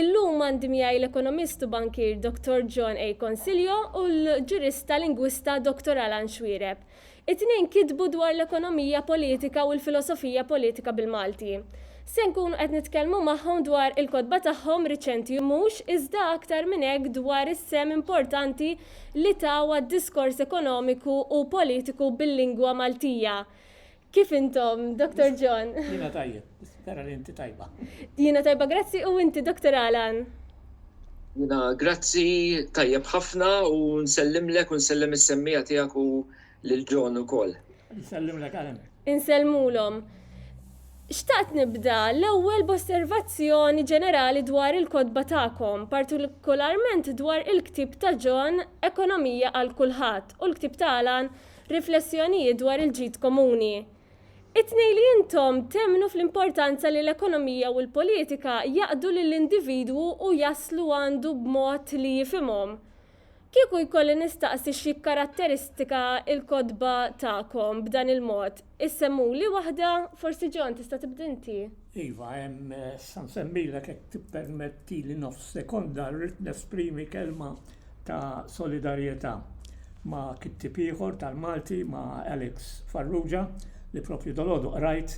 Illum għandi miegħi l-ekonomist u bankier Dottor John A. Consiglio u l-ġurista lingwista Dottor Alan Xuereb. It-tnejn kitbu dwar l-ekonomija politika u l-filosofija politika bil-Malti. Se nkunu qed nitkellmu magħhom dwar il-kotba tagħhom riċenti u mhux iżda aktar minn hekk dwar is-sehem importanti li taw għad-diskors ekonomiku u politiku bil-lingwa Maltija Kif intom, Dr. John? Jina tajjeb, spera li inti tajba. Jina tajba, grazzi, u inti, Dr. Alan? Jina, grazzi, tajjeb ħafna, u nsellimlek, u nsellim is-semmija tijak u l-ġon u kol. Nsellimlek għalem. Insellmulom. Xtaqt nibda l-ewwel b'osservazzjoni ġenerali dwar il-kodba tagħkom, partikolarment dwar il-ktib ta' John Ekonomija għal kulħadd u l-ktib ta' Alan Riflessjonijiet dwar il-ġid komuni. It-tnejn li intom temmnu fl-importanza li l-ekonomija u l-politika jaqdu lill-individwu u jaslu għandu b'mod li jifhimhom. Kieku jkolli nistaqsi x'jikkaratteristika l-kotba tagħkom b'dan il-mod, Issemmuli waħda, forsi John tista' tibda inti? Iva, hemm, se nsemmilek jekk tippermettili nofs sekonda, rrid nesprimi kelma ta' solidarjetà ma' kittieb ieħor tal-Malti, ma' Alex Farrugia, li proprju dalgħodu qrajt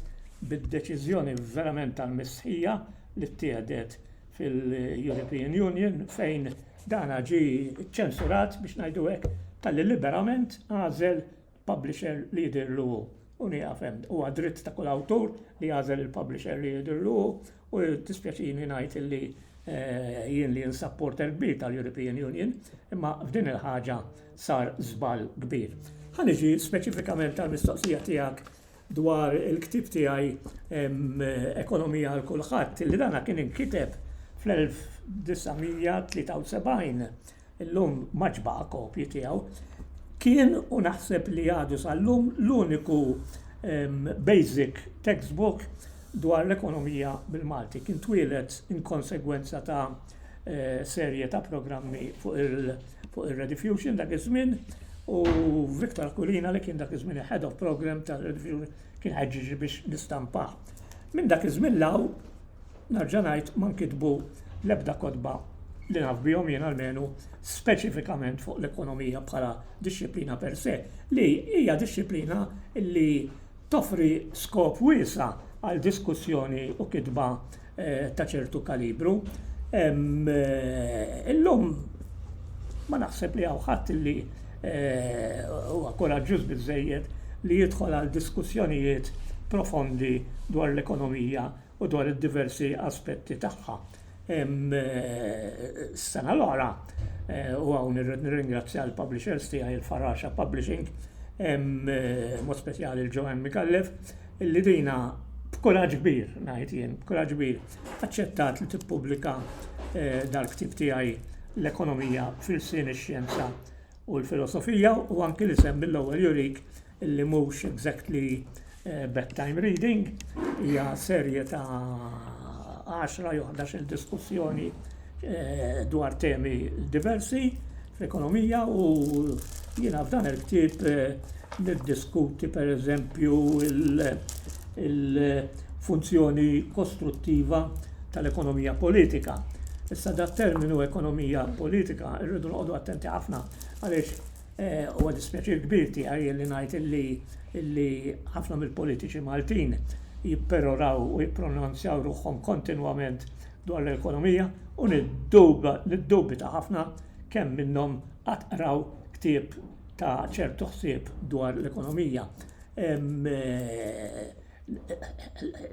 bid-deċiżjoni verament tal-mistħija li ttieħdet fil-European Union fejn dan ġie ċċensurat, biex ngħidu hekk, talli liberament għażel publisher li jidhirlu hu. U nieqaf hemm. Huwa dritt ta' kull awtur li jagħżel il-publisher li jidhirlu hu u dispjaċini ngħid illi eh, jien li insapporter kbir tal-European Union, imma f'din il-ħaġa sar żball kbir. Ħa niġi speċifikament tal-mistoqsija tiegħek dwar il-ktieb tiegħi Ekonomija għal Kulħadd, li dana kien inkiteb fl-1973, illum ma ġbaqa' kopji tiegħu, kien u naħseb li għadu sal-lum l-uniku basic textbook dwar l-ekonomija bil-Malti. Kien twieled inkonsegwenza ta' eh, serje ta' programmi fuq il-Rediffusion dak iż-żmien u Viktor Kulina li kien dak iż-żmien head of program ta' Rediffusion kien ħeġġiġi biex nistampa. Minn dak iż-żmien law narġa' ngħid ma nkitbu l-ebda kotba li naf bihom jien almenu speċifikament fuq l-ekonomija bħala disċiplina per se li hija disċiplina li Toffri skop wiesa' għal diskussjoni u kitba ta' ċertu kalibru. Illum ma naħseb li hawn ħadd li huwa kuraġġuż biżżejjed li jidħol għal diskussjonijiet profondi dwar l-ekonomija, u dwar id-diversi aspetti tagħha. Is-sena l-oħra, u hawn irrid nirringrazzja l-publishers tiegħi il-Faraxa Publishing, mod speċjali l-Joanne Micallef, illi dina b'kuraġġ kbir, ngħid jien, b'kuraġġ kbir, aċċettat li tippubblika eh, dal-ktib tiegħi l-ekonomija fil-sin ix-xjenza u l-filosofija u anki li semmi l-ewwel jurik li mhux exactly bedtime reading, hija serje ta' għaxra jew ħdax-il diskussjoni dwar temi diversi fl-ekonomija u jiena f'dan il-ktieb niddiskuti pereżempju il-funzjoni kostruttiva tal-ekonomija politika. Issa dat-terminu ekonomija politika rridu noqogħdu attenti ħafna għaliex Huwa dispjaċir kbir tiegħi li ngħid li ħafna mill-politiċi Maltin jipperoraw u jippronunzjaw ruħhom kontinwament dwar l-ekonomija u niddubita ħafna kemm minnhom qatt qraw ktieb ta' ċertu ħsieb dwar l-ekonomija.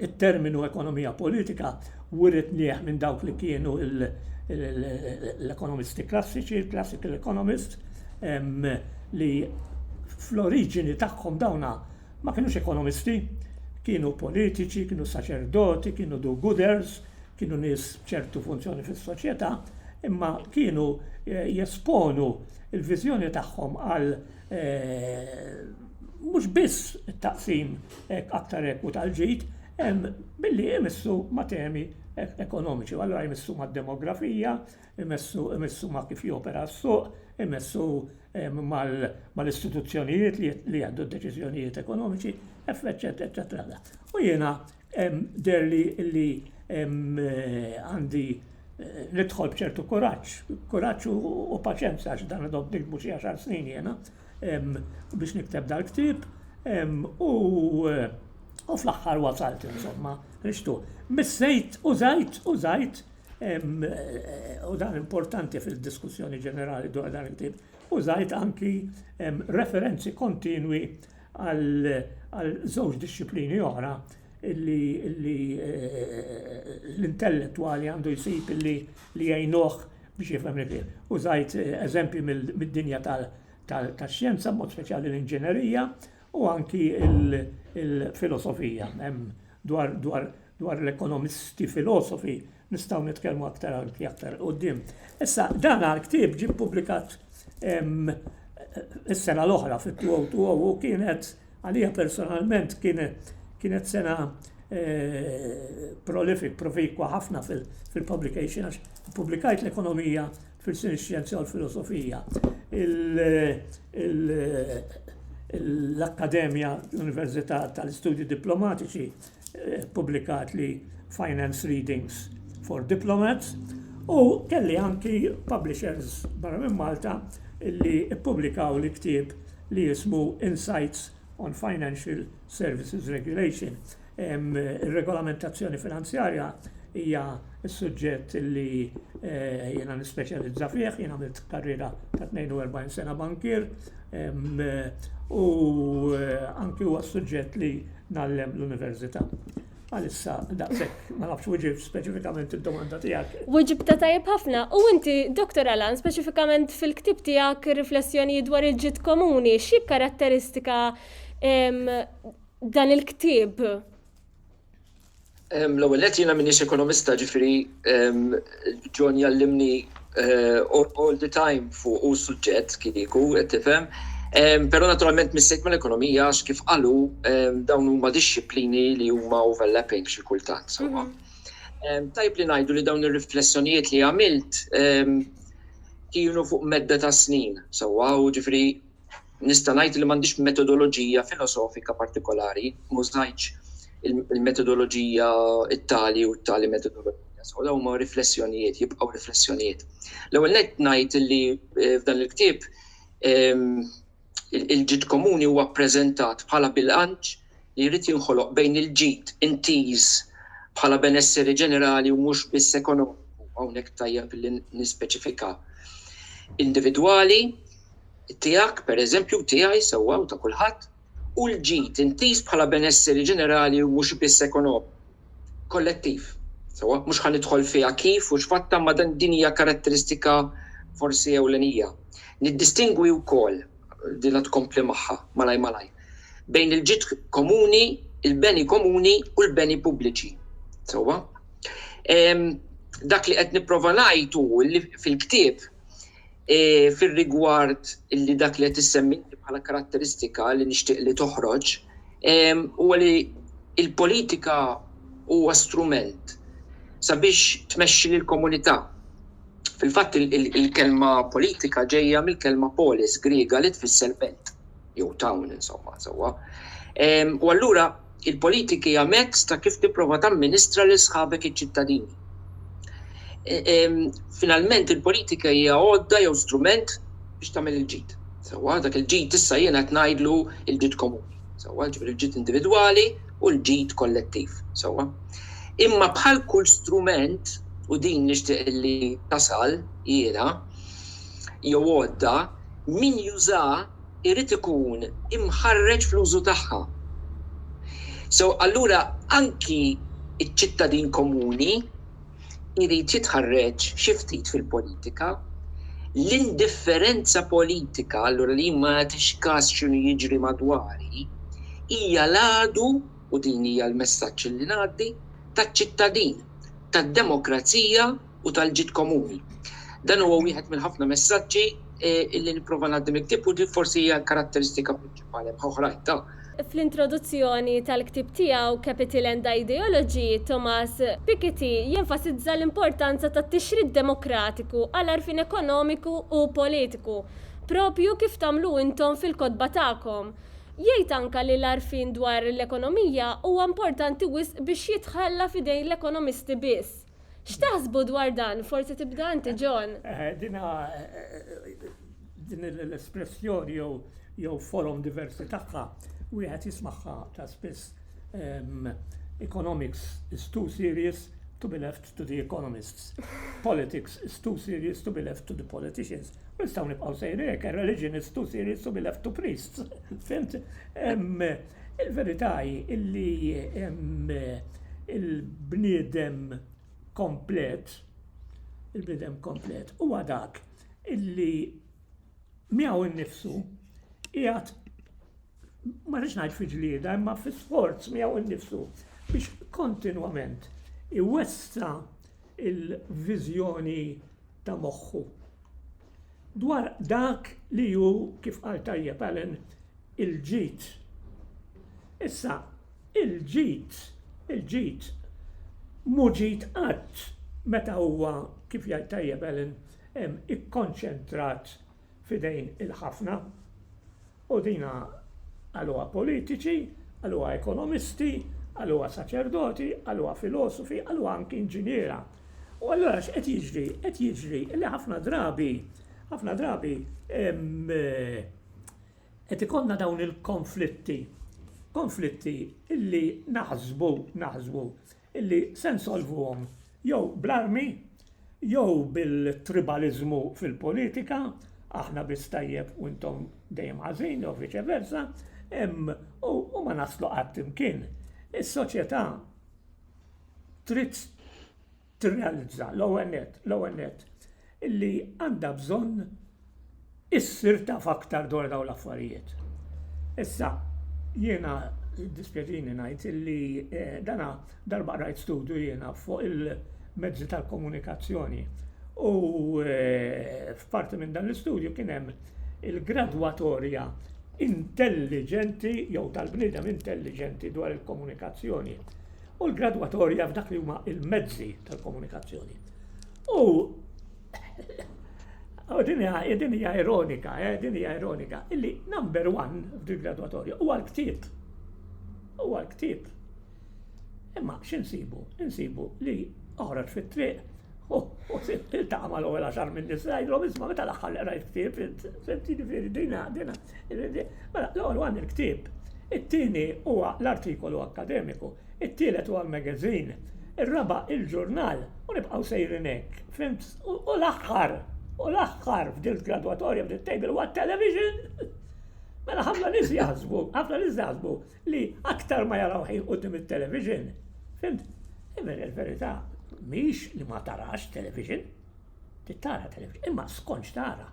it-terminu ekonomija politika writnieh minn dawk li kienu l-ekonomisti klassiċi, il-classical economists, li fl-oriġini tagħhom dawna ma kienux ekonomisti, kienu politiċi, kienu saċerdoti, kienu do-gooders, kienu nies ċertu funzjoni fis-soċjetà, imma kienu eh, jesponu il-viżjoni tagħhom għal mhux biss it-taqsim aktar ekwu tal-ġid, billi imissu ma' temi ekonomiċi. Allura jmissu mad-demografija, imissu ma' kif jopera s-suq, imissu mal-istituzzjonijiet li jieħdu d-deċiżjonijiet ekonomiċi, eċċetera. U jiena Deher li li għandi nidħol bċertu kuraġġ, kuraġġ u paċenza għax dan għadhom nikbu xi għaxar snin jena biex nikteb dal-ktib u u fl-aħħar wasalt insomma rixtu. Missejt u zajt u zajt u dan importanti fil-diskussjoni ġenerali dwar dan il-ktib u zajt anki referenzi kontinwi għal żewġ dixxiplini oħra illi l-intellettwali għandu jsib illi li jgħinuh biex jifhem li fih. Użajt eżempji mid-dinja tax-xjenza, b'mod speċjali l-inġinerija, u anki l-filosofija. Hemm dwar l-ekonomisti filosofi Nistgħu nitkellmu aktar anki aktar quddiem. Issa, dan għal-ktib ġib publikat is-sena l-oħra fit-2020 u kienet għalija personalment kienet sena eh, prolific, profikwa ħafna fil-publication għax publikajt l-ekonomija fil-sin xjenza u l-filosofija. L-Akkademja, l-Università tal-Istudji Diplomatiċi, ppubblikat li Finance Readings for Diplomats u kelli anki publishers barra minn Malta li ppubblikaw li ktieb li jismu Insights on Financial Services Regulation. Ir-regolamentazzjoni finanzjarja hija Is-suġġett li jiena nispeċjalizza fih, jien għamilt karriera ta' 42 sena bankier u anki huwa s-suġġett li ngħallem l-università. Għalissa daqshekk ma nafx wiġib speċifikament id-domanda tiegħek. Wiġibtha tajjeb ħafna u inti, Dottor Alan, speċifikament fil-ktieb tiegħek Riflessjonijiet dwar il-Ġid Komuni, x'jikkaratteristika dan il-ktieb? L-ewwel nett jiena m'iniex ekonomista, ġifieri John jallimni eh, all the time fuq u suġġett kieku qed tifhem. Però naturalment missejt mal-ekonomija għax kif qalu dawn huma dixxiplini li huma overlapping xi kultant. Mhm. Tajb li ngħidu li dawn ir-riflessjonijiet li għamilt kienu fuq medda ta' snin, sewwa u ġifieri Nista' ngħid li m'għandix metodoloġija filosofika partikolari, m'użajtx il-metodoloġija t-tali u t-tali metodoloġija. So dawn huma riflessjonijiet, jibqgħu riflessjonijiet. L-ewwel nett ngħid li eh, f'dan il-ktieb ehm, il-ġid komuni huwa ppreżentat bħala bilanċ li jrid jinħoloq bejn il-ġid intiż bħala benesseri ġenerali u mhux biss ekonomiku, hawnhekk tajjeb li nispeċifika, individwali, tiegħek pereżempju, tiegħi sewwa u ta' kulħadd, u l-ġid intiż bħala benesseri ġenerali u mhux biss ekonomiku, kollettiv. Sewwa, mhux ħa nidħol fiha kif u x'fatta ma' din hija karatteristika forsi ewlenija. Niddistingwi wkoll din la tkompli magħha malajr malajr, bejn il-ġid komuni, il-beni komuni u l-beni pubbliċi. Sewwa? Dak li qed nipprova ngħid hu li fil-ktieb e, fir-rigward li dak li qed issemmi bħala karatteristika li nixtieq li toħroġ huwa li il-politika huwa strument sabiex tmexxi lill-komunità Fil-fatt, il-kelma politika ġejja mill-kelma polis Griega li tfisser belt, jew town insomma, sewwa. U allura, il-politika hija mezz ta' kif tipprova tamministra lil sħabek iċ-ċittadini. Finalment, il-politika hija għodda jew strument biex tagħmel il-ġid. Sewwa, dak il-ġid issa jiena qed ngħidlu l-ġid komuni. Sewwa, jiġifieri l-ġid individwali, u l-ġid kollettiv. Sewwa? Imma bħal kull strument, u din nixtieq li tasal jiena, jew għodda, min jużha jrid ikun imħarreġ fl-użu tagħha. So, allura anki ċ-ċittadin komuni, irid jitħarreġ xi ftit fil-politika. L-indifferenza politika, allura li jien ma nagħtix kas x'inhu jiġri madwari, hija l-għadu, u din hija l-messaġġ li ngħaddi, taċ-ċittadin, tad-demokrazija u tal-ġid komuni. Dan huwa wieħed mill-ħafna messaġġi li nipprova ngħaddi mill-ktieb u din forsi hija l-karatteristika prinċipali. Għalhekk hu ħrajt ta'. Fl-introduzzjoni tal-ktieb tiegħu Capital and Ideology, Thomas Piketty jenfasizza l-importanza tat-tixrid demokratiku għal għarfien ekonomiku u politiku, proprju kif tagħmlu intom fil-kotba tagħkom. Jgħid anke li l-għarfien dwar l-ekonomija huwa importanti wisq biex jitħalla f'idejn l-ekonomisti biss. X'taħsbu dwar dan? Forsi tibda inti John. Eh, eh, dina eh, din l-espressjoni jew jew forum diversi tagħha wieħed jismagħha ta' spiss ehm, economics is too serious to be left to the economists. Politics is too serious to be left to the politicians. Nistaw nibqaw sejri, religion is too serious to be left to priests. Fimt? Il-verità hi li l-bniedem komplet, il-bniedem komplet huwa dak li miegħu nnifsu qiegħed, ma rridx ngħid fi ġlieda, imma fi sforz miegħu nnifsu biex kontinwament iwessa' l-viżjoni ta' moħħu. dwar dak li hu, kif qal tajjeb Alan, il-ġid. Issa, il-ġid, il-ġid, mhu ġid qatt meta huwa, kif jgħid tajjeb Alan, ikkonċentrat f'idejn il-ħafna. U dina qaluha politiċi, qaluha ekonomisti, qaluha saċerdoti, qaluha filosofi, qaluha anki inġiniera. U allura x'qed jiġri? Qed jiġri li ħafna drabi, ħafna drabi qed ikollna dawn il-konflitti, konflitti li naħsbu, naħsbu illi se nsolvuhom jew bl-armi jew bil-tribaliżmu fil-politika, aħna biss tajjeb u intom dejjem ħażin jew viċe versa, u ma naslu qatt imkien. Is-soċjetà trid tirrealizza l-ewwel nett, l-ewwel nett, li għandha bżonn issir taf aktar dwar dawn l-affarijiet. Issa, jiena dispjaċini ngħid li eh, dana darba rajt studju jiena fuq il-mezzi tal-komunikazzjoni u eh, f'parti minn dan l-istudju kien hemm il-gradwatorja intelligenti jew tal-bniedem intelligenti dwar il-komunikazzjoni. u l-gradwatorja f'dak li huma il-mezzi tal-komunikazzjoni. U din hija ironika, eh, din hija ironika, illi number one f'dil gradwatorja huwa l-ktieb. Huwa l-ktieb. Imma x'insibu? Insibu li oħroġ fit-triq U il-taqma l-għol għaxar minn nis, għajdlom isma meta l-axħar li għrajt ktib, fimti ġifiri dina, dina, mela l-għol għan il-ktib. It-tini huwa l-artikolu akademiku, it-tielet huwa l-magazin, il-raba il-ġurnal, u nibqaw sejrinek, fimt, u l-axħar, u l-axħar f'dil graduatorja f'dil table huwa television. Mela ħafna nis jazbu, ħafna nis jazbu. li aktar ma jaraw ħin quddiem it-television, fimt? Imma il-verità mhix li ma tarax television, tittara television, imma skonċ tara.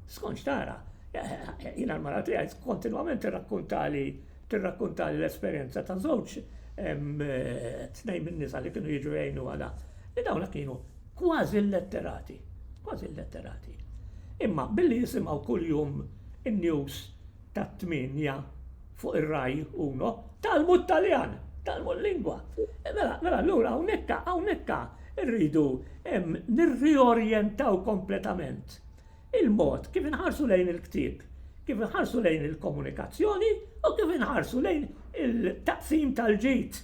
Skonċ tara. Jina l-mara tiegħi kontinwament tirrakkuntali tirrakkuntali l-esperjenza ta' żewġ tnejn minn nisa li kienu jiġu jgħinu għada. Li dawna kienu kważi letterati, kważi letterati. Imma billi jisimgħu kuljum in-news tat-tmienja fuq ir-Rai Uno, talmu t-Taljan, talmu l-lingwa. Mela, mela, allura hawnhekk hawnhekk rridu nirriorjentaw kompletament il-mod kif inħarsu lejn il-ktieb, kif inħarsu lejn il-komunikazzjoni u kif inħarsu lejn il-taqsim tal-ġid.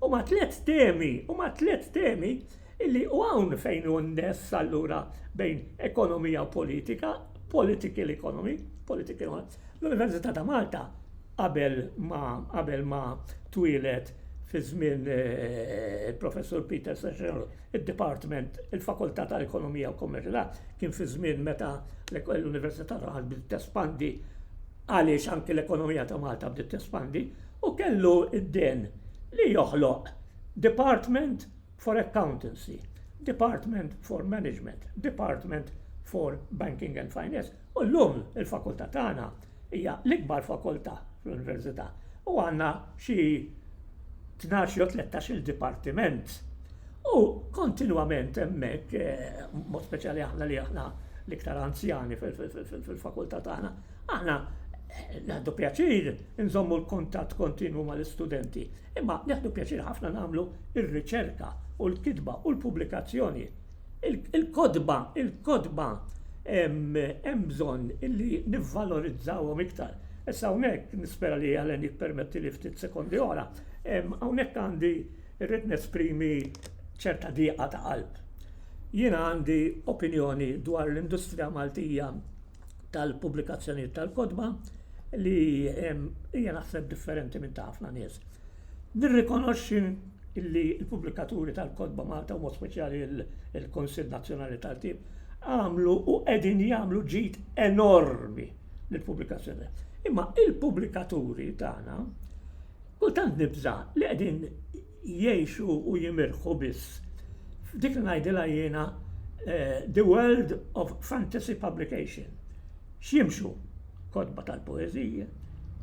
U ma tliet temi, u ma tliet temi illi u hawn fejn hu n-ness allura bejn ekonomija u politika political economy, political economy. L-Università ta' Malta qabel ma qabel ma twilet fi żmien eh, il-Professur Peter Session, il-Department, il-Fakultà tal-Ekonomija u Kommerċjalità kien fi żmien meta l-Università ta' Malta bdiet tespandi għaliex anke l-ekonomija ta' Malta bdiet tespandi u kellu id-den li joħloq Department for Accountancy, Department for Management, Department for Banking and Finance u llum il-fakultà tagħna hija l-ikbar fakultà fl-Università u għandna xi 12 jew 13 il-dipartiment. U kontinwament hemmhekk, eh, mod speċjali aħna li aħna l-iktar anzjani fil-fakultà tagħna, Aħna naħdu pjaċir nżommu l-kuntatt kontinwu mal-istudenti, imma naħdu pjaċir ħafna nagħmlu r-riċerka u l-kitba u l-pubblikazzjoni. Il-kotba, il-kotba hemm bżonn li nivvalorizzawhom iktar. Issa hawnhekk nispera li Helen jippermettili ftit sekondi oħra, hawnhekk għandi rrid nesprimi ċerta dieqa ta' qalb. Jiena għandi opinjoni dwar l-industrija Maltija tal-pubblikazzjonijiet tal-kotba li hija naħseb differenti minn ta' ħafna nies. Nirrikonoxxi li l-pubblikaturi tal-kotba Malta u speċjali il-Konsil Nazzjonali tal-Tib għamlu u qegħdin jagħmlu ġid enormi lill-pubblikazzjoni. Imma il-pubblikaturi tagħna kultant nibża li qegħdin jgħixu u jimirħu biss f'dik li ngħidilha jiena the world of fantasy publication. X'jimxu? Kotba tal-poeżiji,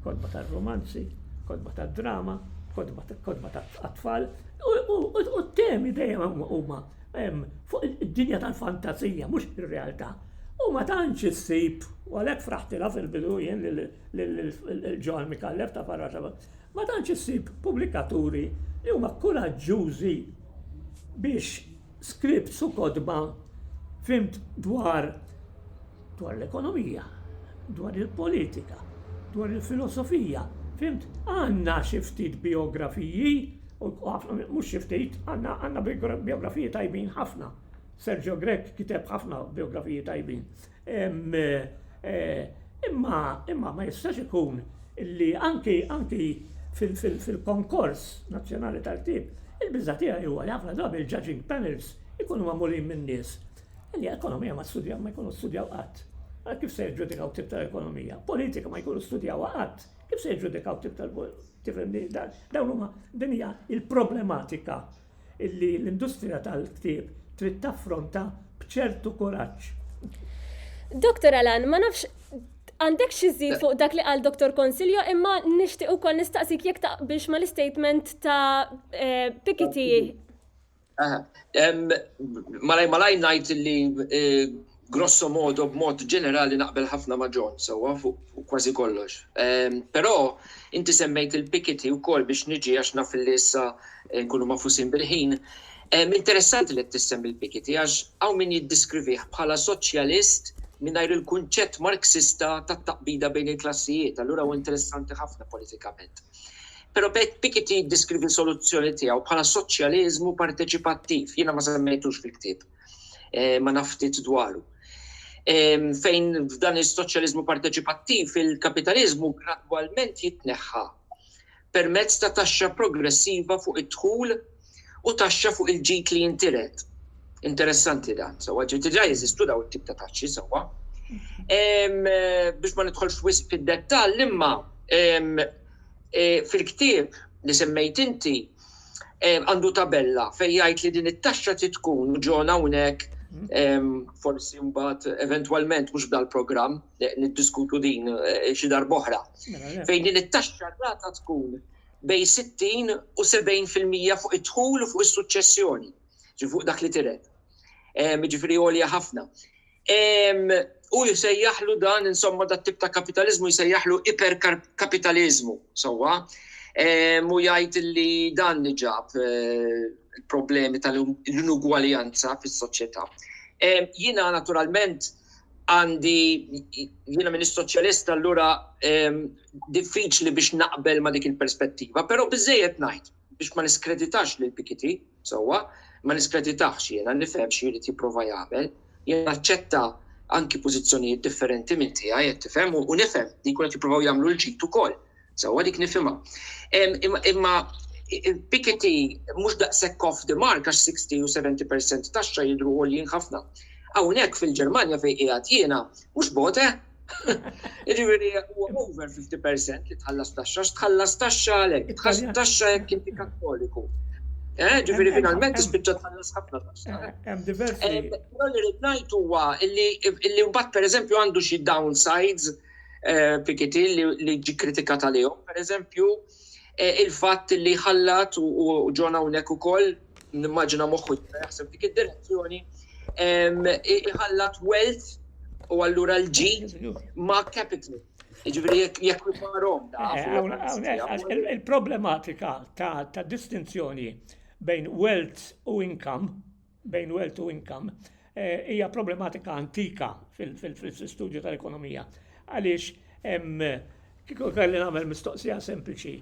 kotba tar-rumanzi, kotba tad-drama, kotba tat-tfal, u t-temi dejjem huma fuq id-dinja tal-fantazija, mhux ir-realtà. U ma tantx issib, u għalhekk fraħtilha fil-bidu jien lil Ġoan Micallef ta' Barra Ma tantx issib pubblikaturi li huma kuraġġużi biex scripts u kotba fimt dwar dwar l-ekonomija, dwar il-politika, dwar il-filosofija, fimt għandna xi ftit bijografiji, u mhux xi ftit, għandna bijografiji tajbin ħafna. Sergio Grech kiteb ħafna bijografiji tajbin. Imma imma ma jistax ikun li anki anki fil-konkors nazzjonali tal-ktieb, il-biża' tiegħi huwa li ħafna drabi l-judging panels ikunu magħmulin minn nies li ekonomija ma studjaw ma jkunu studjaw qatt. Ara kif se jiġġudikaw ktieb tal-ekonomija. Politika ma jkunu studjawha qatt. Kif se jiġġudikaw ktieb tal-politika? Tifhimni? Dawn huma din hija l-problematika illi l-industrija tal-ktieb trid taffronta b'ċertu kuraġġ. Dr. Alan, ma nafx għandek xi żid fuq dak li qal Dr. Consilio imma nixtieq ukoll nistaqsik jekk taqbilx ma l-istatement ta' eh, Pikiti. Malaj malaj ngħid li eh, Grosso modo, b'mod ġenerali naqbel ħafna ma' John, sewwa, fuq kważi kollox. Però, inti semmejt il-pikiti wkoll biex niġi għax naf li issa nkunu magħfusin bil-ħin. Interessanti li qed issemmi l-pikiti għax hawn min jiddiskrivih bħala soċjalist mingħajr il-kunċett marksista tat-taqbida bejn il-klassijiet, allura hu interessanti ħafna politikament. Però pikiti jiddiskrivi soluzzjoni tiegħu bħala soċjaliżmu parteċipattiv, jiena ma semmejthux fil-ktieb. eh, ma naf ftit dwaru. Fejn f'dan is-soċjaliżmu parteċipattiv il-kapitaliżmu gradwalment jitneħħa permezz ta' taxxa progressiva fuq id-dħul u taxxa fuq il-ġid li jintiret. Interessanti dan, sewa ġiet ġa jeżistu daw it-tip ta' taxxi sewa. Eh, biex ma nidħolx wisq fid-dettall imma eh, fil-ktieb li semmejt inti għandu tabella fejn jgħid li din it-taxxa trid tkun, u John hawnhekk forsi mbagħad eventwalment mhux f'dal-programm niddiskutu din xi darb'oħra, fejn din it-taxxa rata tkun bejn 60 u 70 fil-mija fuq id-dħul u fuq is-suċċessjoni, ġifieri fuq dak li tiret. Jiġifieri għolja ħafna. U jsejjaħlu dan, insomma, dat tip ta' kapitalizmu jsejjaħlu iperkapitalizmu, sewwa. Mu jgħid li dan li ġab eh, il-problemi tal-inugwaljanza fis-soċjetà. Jiena naturalment għandi jiena minn soċjalista allura diffiċli biex naqbel ma dik il-perspettiva, però biżejjed ngħid biex ma niskreditax lil Pikiti, sewwa, ma niskreditaħx jiena, nifhem xi jrid jipprova jagħmel, jien naċċetta anki pożizzjonijiet differenti minn tiegħi qed tifhem u u nifhem li jkun qed jippruvaw jagħmlu l-ġid ukoll. Sewwa dik nifhimha. Em, Imma imma il-Piketty mhux daqshekk off the mark għax 60 u 70% taxxa jidhru għoljin ħafna. Hawnhekk fil-Ġermanja fejn qiegħed jiena mhux bogħod eh! Ġifieri huwa over 50% li tħallas taxxa, tħallas taxxa għalek, tħallas taxxa jekk inti kattoliku. Eh, ġifieri finalment tispiċċa tħallas ħafna taxxa. Eh, hemm diversi. Eh, però li rid ngħid huwa li mbagħad pereżempju għandu xi downsides Pikiti li ġi kritika tal-jom, per eżempju, eh, il-fatt li ħallat u ġon hawnhekk ukoll nimmaġina moħħu jaħseb dik id-direzzjoni iħallat wealth u allura l-ġid ma' capital. Ġifiri, jek parom eh, Il-problematika ta' distinzjoni bejn wealth u income bejn wealth u income eh, hija problematika antika fil-studju tal-ekonomija. Għaliex kieku kelli nagħmel mistoqsija sempliċi,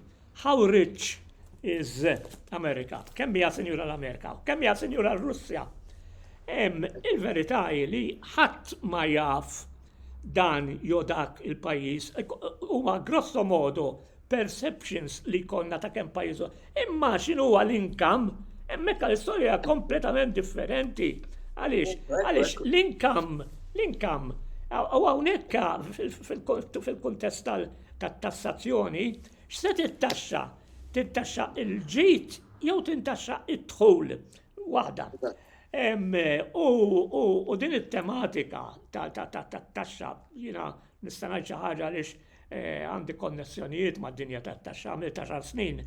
how rich is America? Kemm hija sinjura l-Amerika? Kemm hija sinjura l-Russja? Il-verità hi li ħadd ma jaf dan jodak il-pajjiż huwa grosso modo perceptions li jkollna ta' kemm pajjiż. Imma x'inhu huwa l-inkam, hemmhekk l-istorja hija kompletament differenti. Għaliex? Għaliex l-inkam, l-inkam, u hawnhekk fil-kuntest tat-tassazzjoni, x'se tittaxxa? Tintaxxa l-ġid jew tintaxxa d-dħul? Waħda. U din it-tematika tat-taxxa jiena Nista' ngħid xi ħaġa għaliex għandi konnessjonijiet mad-dinja tat-taxxa għamilt għaxar snin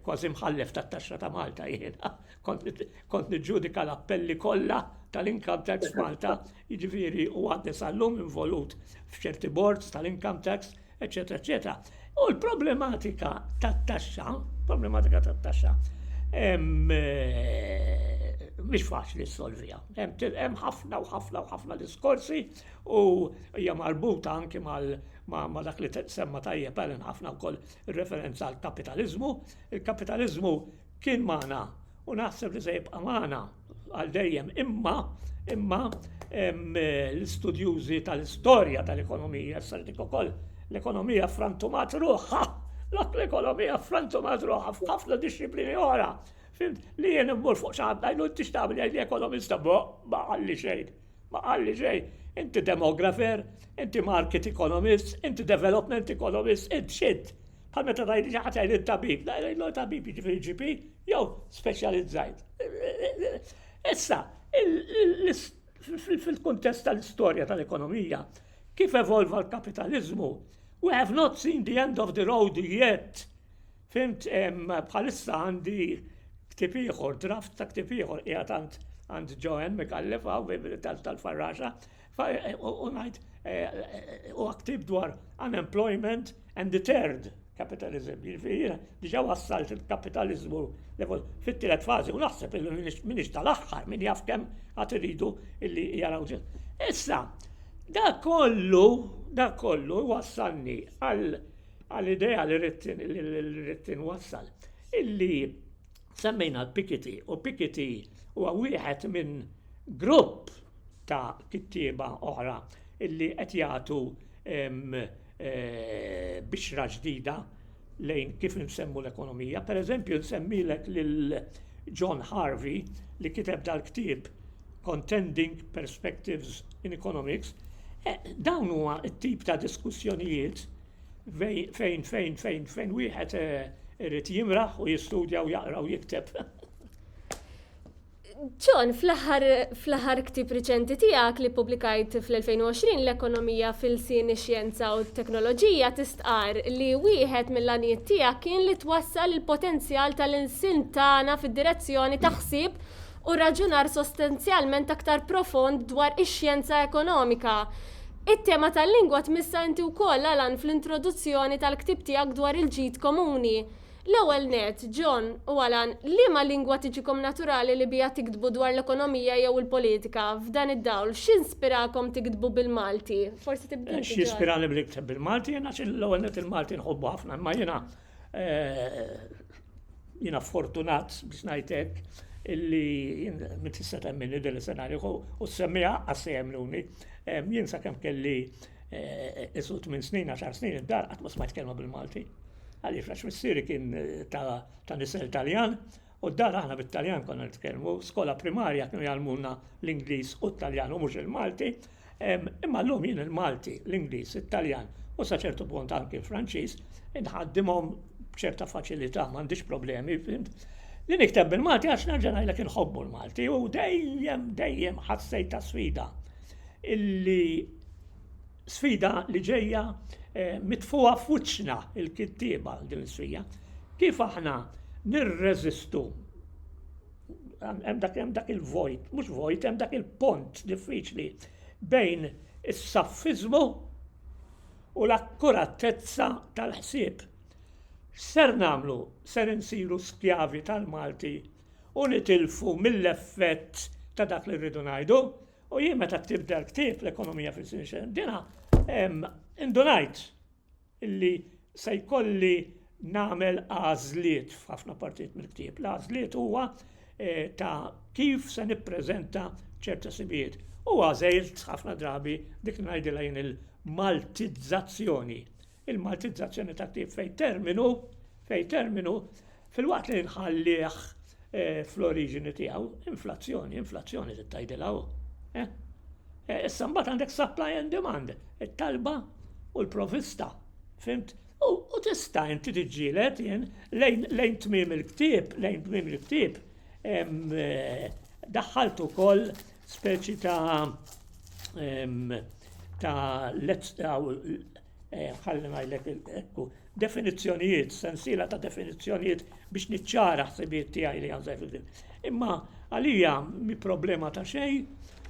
kważi mħallef tat-taxxa ta' Malta jiena. Kont niġġudika l-appelli kollha tal-Income Tax Malta, jiġifieri u għadni sal-lum involut f'ċerti boards tal-Income Tax, eċetera, eċetera. U l-problematika tat-taxxa, problematika tat-taxxa, mhix faċli ssolvija. Hemm ħafna u ħafna u ħafna diskorsi u hija marbuta anki ma' dak li semma tajjeb Alan ħafna wkoll ir-referenza għal kapitaliżmu. Il-kapitaliżmu kien magħna u naħseb li se jibqa' magħna għal dejjem imma imma l-istudjużi tal-istorja tal-ekonomija se dik ukoll l-ekonomija frantumat ruħha dak l-ekonomija frantumat ruħha f'ħafna dixxiplini oħra. Li jien immur fuq xi ħadd ngħidu tixtaq li ekonomista bo ma ħalli xejn. Ma qalli xejn, inti demografer, inti market economist, inti development economist, int xint. Bħal meta tajli xi ħadd jgħid it-tabib, la jgħidlu tabib jiġifieri GP jew speċjalizzajt. Issa, fil-kuntest tal-istorja tal-ekonomija, kif evolva l-kapitaliżmu, we have not seen the end of the road yet. Fhimt, bħalissa għandi ktieb ieħor, draft ta' ktieb ieħor qiegħed għand għand Joanne Micallef hawn tal-Farraxa, u ngħid huwa ktieb dwar unemployment and the third capitalism, jiġifieri diġà wassalt il-kapitaliżmu fit-tielet fażi u naħseb li minix tal-aħħar min jaf kemm għad iridu illi jaraw ġil. Issa, da kollu, da kollu wassalni għal għall-idea li rrid tinwassal illi semmejna l-Pikiti u Pikiti huwa wieħed minn grupp ta' kittieba oħra illi qed jagħtu eh, bixra ġdida lejn kif nsemmu l-ekonomija. Per eżempju, nsemmilek lil John Harvey li kiteb dal-ktieb Contending Perspectives in Economics, eh, dawn huwa t-tip ta' diskussjonijiet fejn fejn fejn fejn fejn wieħed eh, irid jimraħ u jistudja u jaqra u jikteb. John, fl-aħħar ktib riċenti tiegħek li publikajt fl-2020 l-ekonomija fil-sin ix-xjenza u t-teknoloġija tistqar li wieħed mill-għanijiet tiegħek kien li twassal il-potenzjal tal-insin tagħna fid-direzzjoni ta' ħsieb u raġunar sostenzjalment aktar profond dwar ix-xjenza ekonomika. It-tema tal-lingwa tmissha inti wkoll, Alan, fl-introduzzjoni tal-ktieb tiegħek dwar il-ġid komuni. L-ewwel nett, John u Alan, liema lingwa tiġikom naturali li biha tiktbu dwar l-ekonomija jew il-politika? F'dan id-dawl, x'inspirakom tiktbu bil-Malti? Forsi tibda int, John. X'jispirani li nikteb bil-Malti? Jiena l-ewwel nett il-Malti nħobbu ħafna, imma jiena Jiena fortunat biex ngħid hekk illi minn tista' temminni din is-senarju u semmiha għax se jemmnuni. Jien sakemm kelli isu tmien snin, għaxar snin id-dar qatt ma smajt kelma bil-Malti. Għaliex għax missieri kien ta' nisel Taljan U d-dar aħna bit-Taljan konna nitkellmu, skola primarja kienu jgħalmuna l-Ingliż u t-Taljan u mhux il-Malti, imma llum jien il-Malti, l-Ingliż, it-Taljan u sa ċertu punt anki l-Franċiż inħaddimhom b'ċerta faċilità, m'għandix problemi, fimt? Li nikteb bil-Malti għax nerġa' ngħidlek inħobbu l-Malti u dejjem dejjem ħassejt ta' sfida illi sfida li ġejja mitfuha f'wiċċna il-kittieba din is-sfida. Kif aħna nirreżistu hemm dak hemm dak il-vojt, mhux vojt, hemm dak il-pont diffiċli bejn is-saffiżmu u l-akkuratezza tal-ħsieb. Ser nagħmlu ser insiru skjavi tal-Malti u nitilfu mill-effett ta' dak li rridu ngħidu U jien meta ktibt dal-ktieb l-ekonomija fil-sinxa dina, indunajt illi se jkolli nagħmel għażliet f'ħafna partijiet mill-ktieb. L-għażliet huwa eh, ta' kif se nippreżenta ċerta sibijiet. U għażilt ħafna drabi dik ngħidilha jien il-maltizzazzjoni il-Maltizzazzjoni tat-tip fejn terminu, fejn terminu, fil-waqt li nħallih eh, fl-oriġini tiegħu, inflazzjoni, inflazzjoni titgħidilha hu. Eh? Eh, issa mbagħad għandek supply and demand, it-talba u l-provista, fimt? U tista' inti tiġġielet jien lejn tmiem il-ktieb, lejn tmiem il-ktieb, daħħaltu wkoll speċi ta' em, ta' let's daw eh, ħalli ngħidlek il- ekku definizzjonijiet, sensiela ta' definizzjonijiet biex niċċara ħsibijiet tiegħi li għanżaj fil Imma għalija mi problema ta' xejn,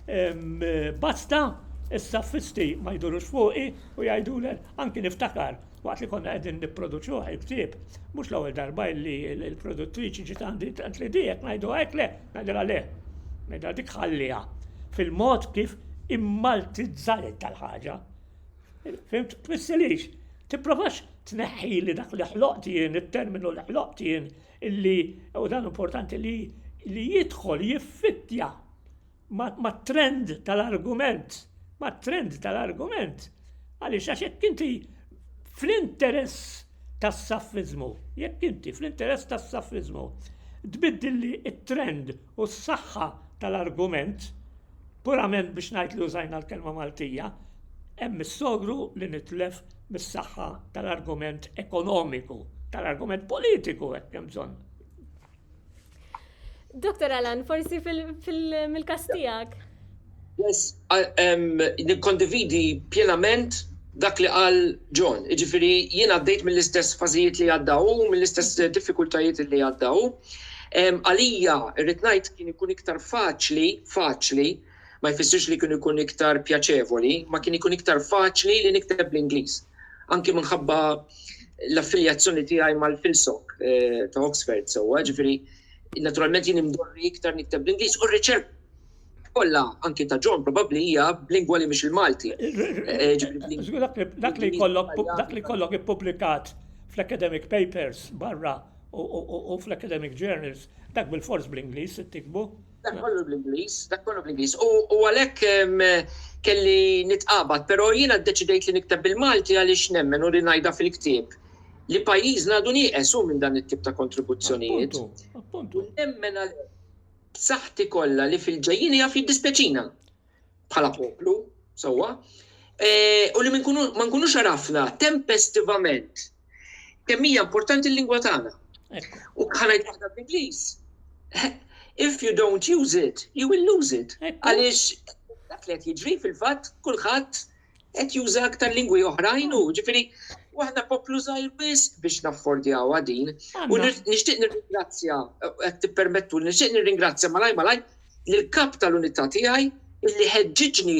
em, basta is-saffisti ma jdurux fuqi u jgħidulek anki niftakar Waqt li konna qegħdin nipproduċuh il-ktieb, mhux l-ewwel darba li l-produttriċi ġiet għandi tant li dijek ngħidu hekk le, ngħidilha le. Ngħidilha dik ħalliha fil-mod kif immaltizzajt tal-ħaġa. Fimt, tmissilix, tipprovax tneħħi li dak li ħloqt jien, it-terminu li ħloqt jien, illi u dan importanti li li jidħol jiffittja mat-trend tal-argument, mat-trend tal-argument, għaliex għax jekk inti fl-interess tas-saffizmu, jekk inti fl-interess tas-saffizmu, tbiddilli it-trend u s-saħħa tal-argument, purament biex ngħid li użajna l-kelma Maltija, hemm is-sogru li nitlef mis-saħħa tal-argument ekonomiku, tal-argument politiku hekk hemm bżonn. Dr. Alan, forsi mill-kas tiegħek. Yes, nikkondividi pjenament dak li qal John. Jiġifieri jien għaddejt mill-istess fażijiet li għadda hu, mill-istess diffikultajiet li għadda hu. Għalija rrid ngħid kien ikun iktar faċli, faċli, ma jfissirx li kien ikun iktar pjaċevoli, ma kien ikun iktar faċli li nikteb bl-Ingliż. Anki minħabba l-affiljazzjoni tiegħi mal-Filsok eh, ta' Oxford sewwa, ġifieri naturalment jien imdorri iktar nikteb bl-Ingliż u r-riċerka kollha anki ta' John probabbli hija b'lingwa li mhix il-Malti. Eh, eh, dak li kollok dak li kollok ippubblikat fl-academic papers barra u fl-academic journals dak bil-fors bl-Ingliż tikbu. Dak kollu bl-Ingliż, dak kollu bl-Ingliż. U għalhekk kelli nitqabad, però jiena ddeċidejt li nikteb bil-Malti għaliex nemmen u li ngħidha fil-ktieb li pajjiżna għadu nieqes hu minn dan it-tip ta' kontribuzzjonijiet. Appuntu, appuntu. Nemmen għal b'saħħti kollha li fil-ġejjini jaf jiddispjaċina. bħala poplu, sewwa, u li ma nkunux għarafna tempestivament kemm hija importanti l-lingwa tagħna. U bħala jtaħda bl-Ingliż, if you don't use it, you will lose it. Għaliex dak li qed jiġri fil-fatt kulħadd qed juża aktar lingwi oħrajn u ġifieri u aħna poplu żgħir biss biex naffordjawha din. U nixtieq nirringrazzja qed tippermettu nixtieq nirringrazzja malaj malaj lill-kap tal-unità tiegħi illi ħeġġiġni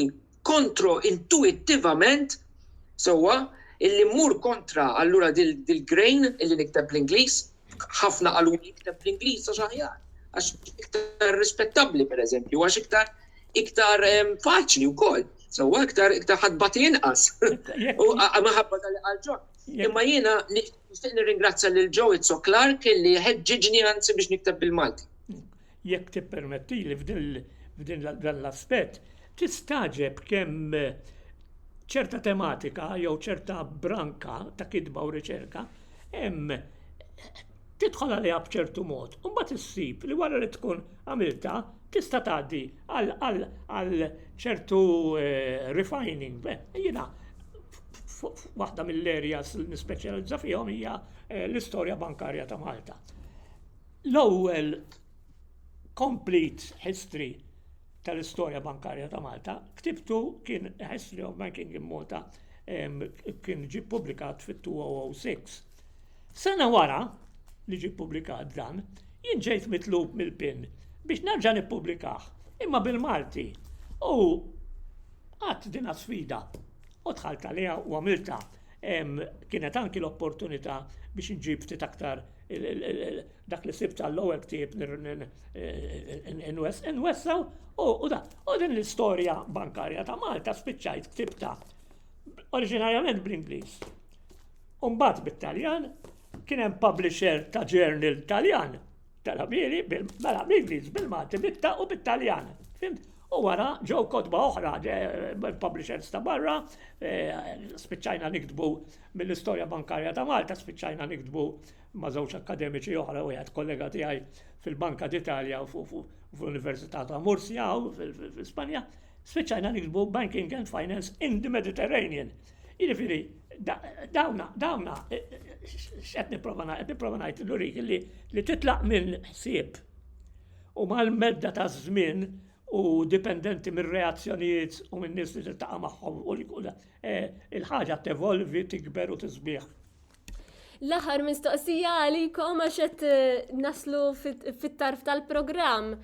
kontro intuittivament sewwa illi mmur kontra allura dil-grain illi nikteb bl-Ingliż ħafna qaluli jikteb bl-Ingliż għax aħjar, għax iktar rispettabbli pereżempju, għax iktar iktar ehm, faċli wkoll. Sewwa iktar iktar ħadbat inqas. U maħabba tal għalġon. Imma jiena nixtieq nirringrazzja lil Joe Izzo Clark li ħeġġiġni anzi biex nikteb bil-Malti. jekk tippermettili f'din dan l-aspett, tistagħġeb kemm ċerta tematika jew ċerta branka ta' kitba u riċerka hemm tidħol għaliha b'ċertu mod, u mbagħad issib li wara li tkun għamiltha tista' tgħaddi għal ċertu eh, refining. Jiena waħda mill-areas nispeċjalizza fihom hija eh, l-istorja bankarja ta' Malta. L-ewwel complete history tal-istorja bankarja ta' Malta ktibtu kien A History of Banking in Malta kien ġie publikat fit-2006. Sena wara li ġie publikat dan, jien ġejt mitlub mill-PIN biex nerġa' nippubblikah imma bil-Malti u qatt dina sfida u dħalt għaliha u għamiltha. Kienet anki l-opportunità biex inġib ftit aktar dak li sibt għall-ewwel ktieb nwessaw u da. U din l-istorja bankarja ta' Malta spiċċajt ktibta oriġinarjament bl-Ingliż. Umbat bit-Taljan, kien hemm publisher ta' journal Taljan tal-Amieri, mela bl-Ingliż, bil-Malti, bitta u bit-Taljan. Fimt? U wara ġew kotba oħra, publishers ta' barra, spiċċajna niktbu mill-istorja bankarja ta' Malta, spiċċajna niktbu ma' żewġ akkademiċi oħra u jgħid kollega tiegħi fil-Banka d'Italja u fl-Università ta' Murcia u fl-Ispanja, spiċċajna niktbu Banking and Finance in the Mediterranean. Jiġifieri, dawna, dawna, x'qed nipprova ngħid, nipprova ngħid l-urik li titlaq minn ħsieb u mal-medda taż-żmien u dipendenti mir-reazzjonijiet u min-nies li tiltaqa' magħhom u eh, il-ħaġa tevolvi, tikber u tisbieħ. L-aħħar mistoqsija għalikom għax qed eh, naslu fit-tarf tal-programm.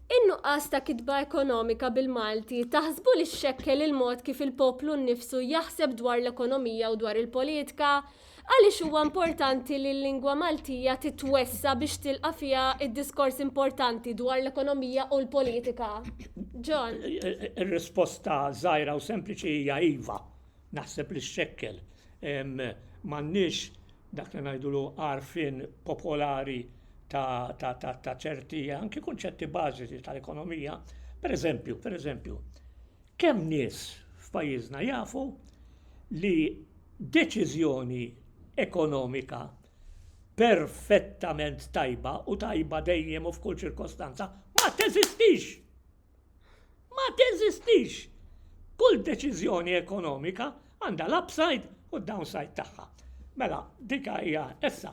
In-nuqqas ta' kitba ekonomika bil-Malti taħsbu li xekkel il-mod kif il-poplu nnifsu jaħseb dwar l-ekonomija u dwar il-politika Għaliex huwa importanti li l-lingwa Maltija titwessa' biex tilqa' fiha d-diskors importanti dwar l-ekonomija u l-politika? John. Ir-risposta żgħira u sempliċi hija iva. Naħseb li x-xekkel. M'għandniex dak li ngħidulu għarfien popolari ta' ċerti anki kunċetti bażiċi tal-ekonomija. Pereżempju, pereżempju, Kemm nies f'pajjiżna jafu li deċiżjoni ekonomika perfettament tajba u tajba dejjem u f'kull ċirkostanza ma teżistix! Ma teżistix! Kull deċiżjoni ekonomika għandha l-upside u d-downside tagħha. Mela, dik hija issa.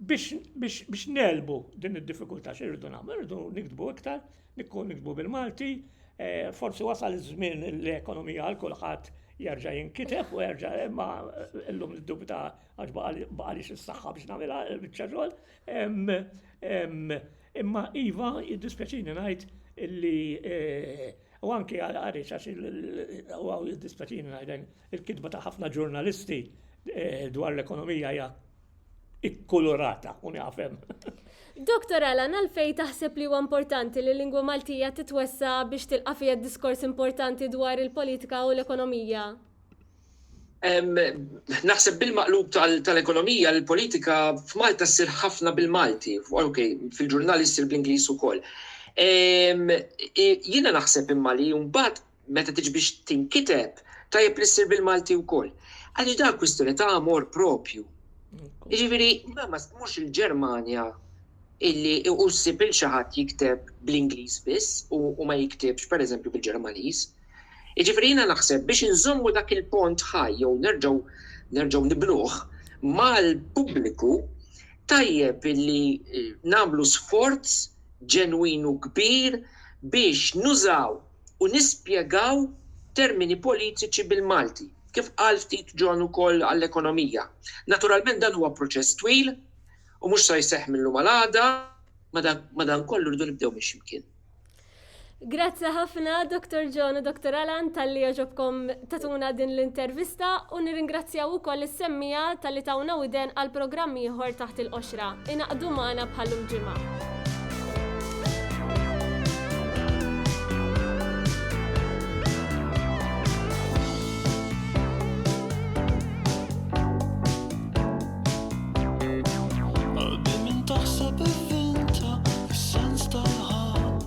Biex nelbu din id-diffikultà x'irridu nagħmlu? Irridu niktbu iktar, nikkun niktbu bil-Malti, eh, forsi wasal iż-żmien l-ekonomija għal kulħadd jerġa' jinkiteb u jerġa' imma llum dubita għax baqa' li s-saħħa biex nagħmilha biċċa xogħol. Imma iva jiddispjaċini ngħid illi eh, u anke għal għarix għax il-għaw jiddispjaċini ngħid il-kitba ta' ħafna ġurnalisti eh, dwar l-ekonomija hija ikkulurata, u nafem. Dr. Alan, għalfej taħseb li huwa importanti li l-lingwa Maltija titwessa biex tilqa' fija diskors importanti dwar il-politika u l-ekonomija? Naħseb bil-maqlub tal-ekonomija, l-politika f'Malta ssir ħafna bil-Malti, fil-ġurnali ssir bl-Ingliż ukoll. Jiena naħseb imma li mbagħad meta tiġi biex tinkiteb, tajjeb li ssir bil-Malti wkoll. Għaliex dan kwistjoni ta' amor propju. Jiġifieri mhux il-Ġermanja illi u ssib il xi ħadd jikteb bl-Ingliż biss u ma jiktibx pereżempju bil-Ġermaniż. Jiġifieri jiena naħseb biex inżommu dak il-pont ħaj jew nerġgħu nerġgħu nibnuh mal-pubbliku tajjeb illi eh, nagħmlu sforz ġenwinu kbir biex nużaw u nispjegaw termini politiċi bil-Malti, kif qal ftit John ukoll għall-Ekonomija. Naturalment dan huwa proċess twil u mhux sa jseħħ mil-lum għal għada, madankollu rridu nibdew minn xi mkien. Grazzi ħafna Dr. John u Dr. Alan talli għaġobkom tatuna din l-intervista u nirringrazzjaw ukoll is-semmiegħa talli tawna widen għal programm ieħor taħt il-qoxra. Ingħaqdu magħna bħal-lum ġimgħa.